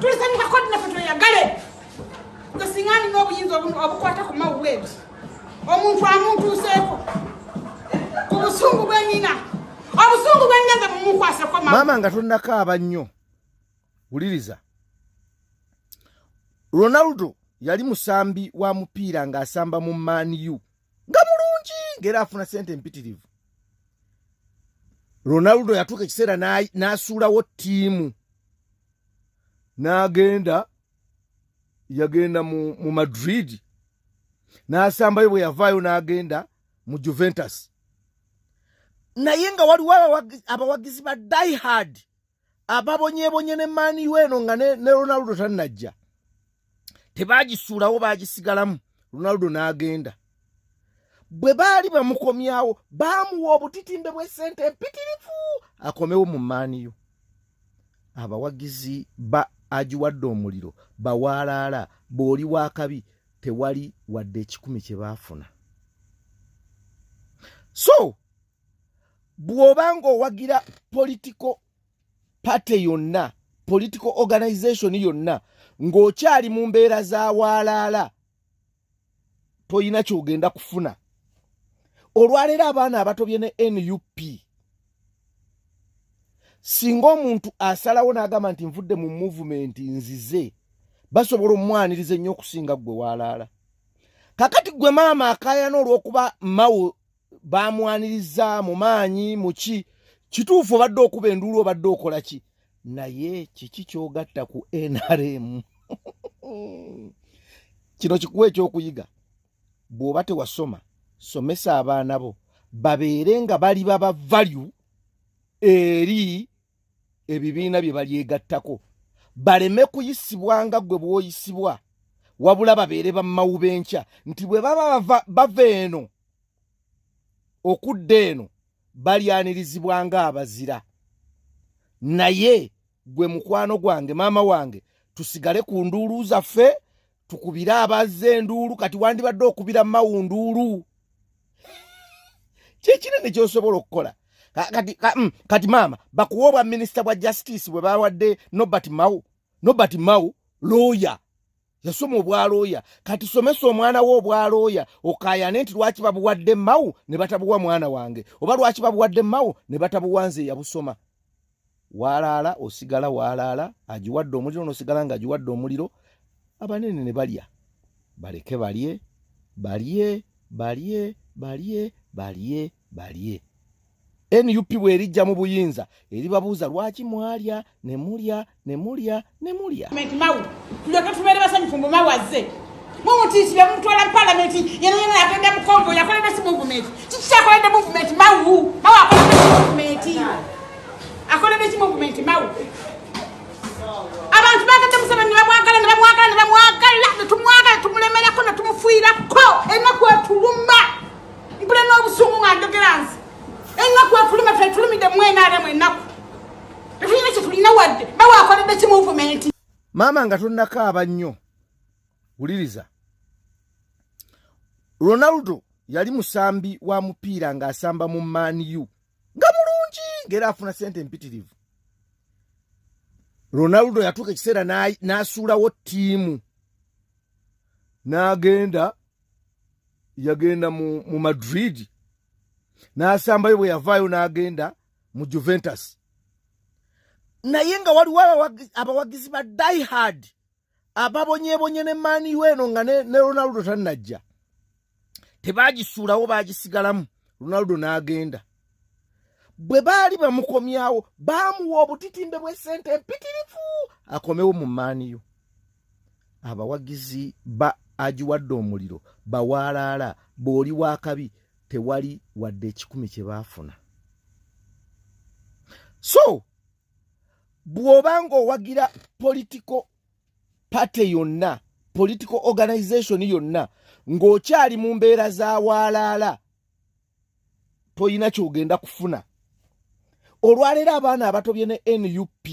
tulisanyuka kodi nafe tweyagale nga singa alina obuyinza obukwata ku mawuweeti omuntu amuntuuseeko ku busungu bwenina obusungu bwengenze mumukwaseko maama nga tonakaaba nnyo wuliriza ronaldo yali musambi wa mupiira ng'asamba mu man u nga mulungi ngaera afuna sente empitirivu ronaldo yatuuka ekiseera n'asuulawo ttiimu n'agenda yagenda mu, mu madrid n'asambayo bwe yavaayo n'agenda mu juventus naye nga waliwo abawagizi ba diehard ababonyebonye ne maniu eno nga ne, ne ronaldo tannajja tebagisuulawo bagisigalamu ronaldo n'agenda bwe baali bamukomyawo baamuwa obutitimbe bw'essente empitirivu akomewo mu maniu abawagizi ba agiwadde omuliro bawaalaala bw'oli w'akabi tewali wadde ekikumi kye baafuna so bw'oba ng'owagira political party yonna political organization yonna ng'okyali mu mbeera za waalaala tolina kyogenda kufuna olwaleero abaana abatobye ne nup singa omuntu asalawo n'agamba nti nvudde mu muvumenti nzize basobola omwaniriza ennyo okusinga ggwe waalaala kakati ggwe maama akayana olw'okuba mawo bamwaniriza mu maanyi muki kituufu obadde okuba enduulu obadde okola ki naye kiki kyogatta ku nrm kino kikuwa ekyokuyiga bw'oba tewasoma somesa abaana bo babeere nga bali baba value eri ebibiina bye balyegattako baleme kuyisibwa nga gwe bwoyisibwa wabula babeere bamawu b'enkya nti bwe baba bava eno okudda eno balyanirizibwa nga abazira naye gwe mukwano gwange maama wange tusigale ku nduulu zaffe tukubire abazze enduulu kati wandibadde okubira mawu nduulu kyekinene kyosobola okukola kati, mm, kati maama bakuwa obwa minisita bwa justice bwe bawadde nobert mawu nobert mawu looya yasoma obwalooya kati somesa omwana we obwalooya okayane nti lwaki babuwadde mawu ne batabuwa mwana wange oba lwaki babuwadde mawu ne batabuwa nze yabusoma waalaala osigala waalaala agiwadde omuliro nosigala nga agiwadde omuliro abanene ne balya baleke balye balye balye balye balye balye nup bwerijja mu buyinza eribabuuza lwaki mwalya ne mulya ne mulya ne mulya mawu tulyoke tubeere basanyufu mbu mawu azze mumutiisi bemutwala mu palamenti yena yena agenda mu kongo yakolera si muvumenti kiki kyakolede muvumenti mawu mawu akolede si muvumenti akolede ki muvumenti mawu abantu bagenda musana ne bamwagala ne bamwagala ne bamwagala ne tumwagala tumulemerako ne tumufuirako enaku etuluma mpule n'obusungu nga ndogeranzi enaku etuluma tetulumide mwenaremu enaku tetulina kyetulina wadde bawe akoledde ki muvumenti maama nga tonnakaaba nnyo wuliriza ronaldo yali musambi wa mupiira ng'asamba mu maniu nga mulungi ngaera afuna sente empitirivu ronaldo yatuuka ekiseera n'asuulawo ttiimu n'agenda yagenda mu madrid n'asambayo bwe yavaayo n'agenda mu juventus naye nga waliwo abawagizi ba diehard ababonyebonye ne maniu eno nga ne, ne ronaldo tannajja tebagisuulawo bagisigalamu ronaldo n'agenda bwe baali bamukomyawo baamuwa obutitimbe bw'essente empitirivu akomewo mu maniu abawagizi ba agiwadde omuliro bawaalaala bw'oli w'akabi tewali wadde ekikumi kye baafuna so bw'oba ng'owagira politiko pate yonna politiko organization yonna ng'okyali mu mbeera za waalaala toyina kyogenda kufuna olwaleero abaana abatobye ne nup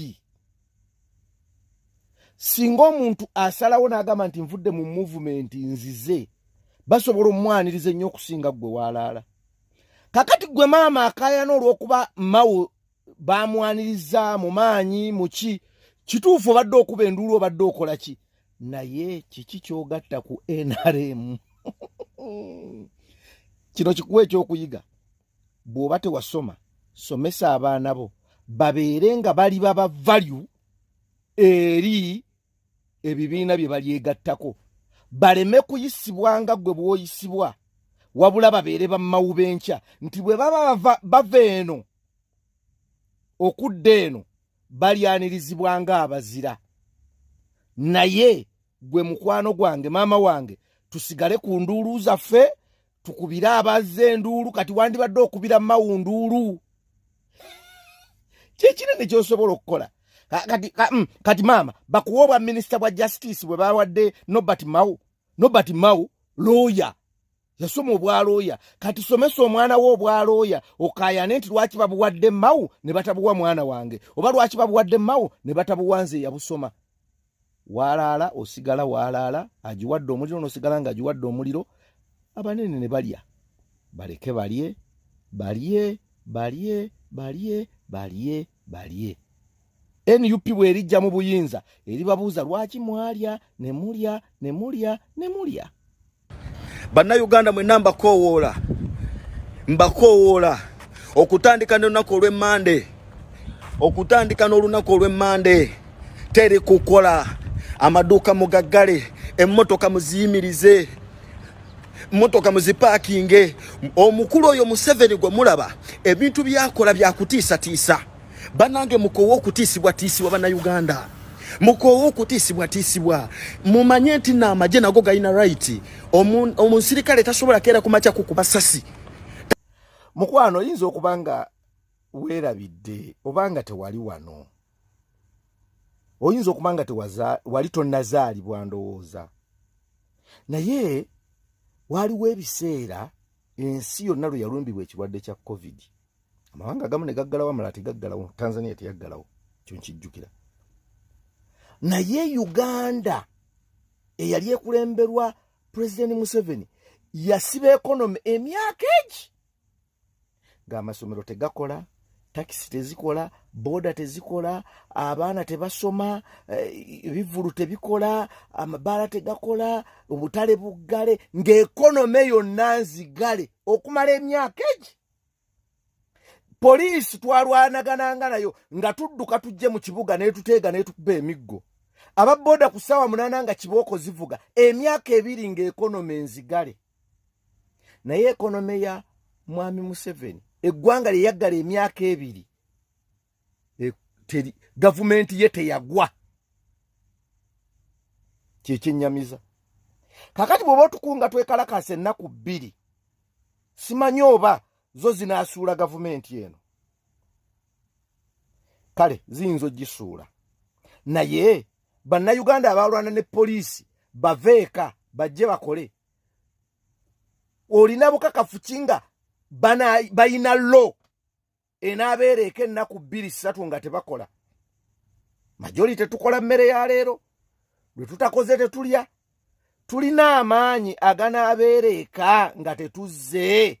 singa omuntu asalawo n'agamba nti nvudde mu muvumenti nzize basobola omwaniriza ennyo okusinga ggwe waalaala kakati ggwe maama akayana olw'okuba mawo bamwaniriza mu maanyi muki kituufu obadde okuba enduulu obadde okola ki naye kiki kyogatta ku nrm kino kikuwa ekyokuyiga bw'oba tewasoma somesa abaana bo babeere nga bali baba value eri ebibiina bye balyegattako baleme kuyisibwa nga gwe bwoyisibwa wabula babeere bamawubenkya nti bwe baba bava eno okudda eno balyanirizibwa nga abazira naye gwe mukwano gwange maama wange tusigale ku nduulu zaffe tukubire abazza enduulu kati wandibadde okubira mawu nduulu kyekinene kyosobola okukola kati, mm, kati maama bakuwa obwa minisita bwa justice bwe bawadde nobert mau nobert mau looya yasoma obwalooya kati somesa omwana we obwalooya okayane nti lwaki babuwadde mawu ne batabuwa mwana wange oba lwaki babuwadde mawu ne batabuwa nze yabusoma walaala osigala walaala agiwadde omuliro nosigala nga agiwadde omuliro abanene ne balya baleke balye balye balye balye balye balye nup bwerijja mu buyinza eribabuuza lwaki mwalya ne mulya ne mulya ne mulya bannayuganda mwenna mbakoowoola mbakoowoola okutandika n'olunaku olw'emmande okutandika n'olunaku olw'emmande teri kukola amaduuka mugaggale emmotoka muziyimirize motoka muzipakinge omukulu oyo museveni gwe mulaba ebintu byakola byakutiisatiisa banange mukowa okutiisibwatiisibwa banauganda mukowa okutiisibwatiisibwa mumanye nti naamagye nago galina right omunsirikale tasobola keera kumakya kukuba sasi mukwano oyinza okuba nga weerabidde oba nga tewali wano oyinza okuba nga wali tonazaalibwa ndowooza naye waaliwo ebiseera ensi yonna lwe yalumbibwa ekirwadde kya covid amawanga agamu ne gaggalawo amala tegaggalawo tanzania teyaggalawo kyo nkijjukira naye uganda eyali ekulemberwa pulezidenti museveni yasiba ekonomi emyaka egi ng'amasomero tegakola takisi tezikola boda tezikola abaana tebasoma eh, ebivulu tebikola amabaala tegakola obutale buggale ng'ekonome yonna nzigale okumala emyaka egi poliisi twalwanagananga nayo nga tudduka tujje mu kibuga netuteega netukuba emiggo aba boda ku ssaawa munaana nga kibooko zivuga emyaka ebiri ng'ekonome nzigale naye ekonome ya mwami museveni eggwanga lyeyaggala emyaka ebiri e, gavumenti ye teyagwa kyekyenyamiza kakati bweoba otukunga twekalakasa ennaku bbiri simanyi oba zo zinaasuula gavumenti eno kale ziyinza ogisuula naye bannayuganda abalwana ne poliisi bave eka bajje bakole olina bukakafu ki nga balina lo enaabeera eka ennaku bbiri ssatu nga tebakola majori tetukola mmere ya leero lwe tutakoze tetulya tulina amaanyi aganaabeera eka nga tetuzze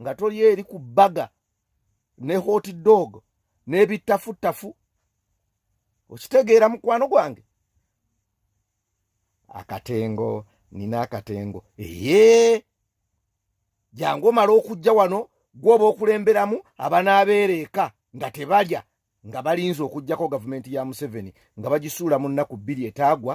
nga toli eri ku baga ne hot dog n'ebittafuttafu okitegeera mukwano gwange akatengo nina akatengo eye jangu omala okujja wano gwoba okulemberamu abanaabeera eka nga tebalya nga balinza okugjako gavumenti ya museveni nga bagisuula mu nnaku bbiri etaagwa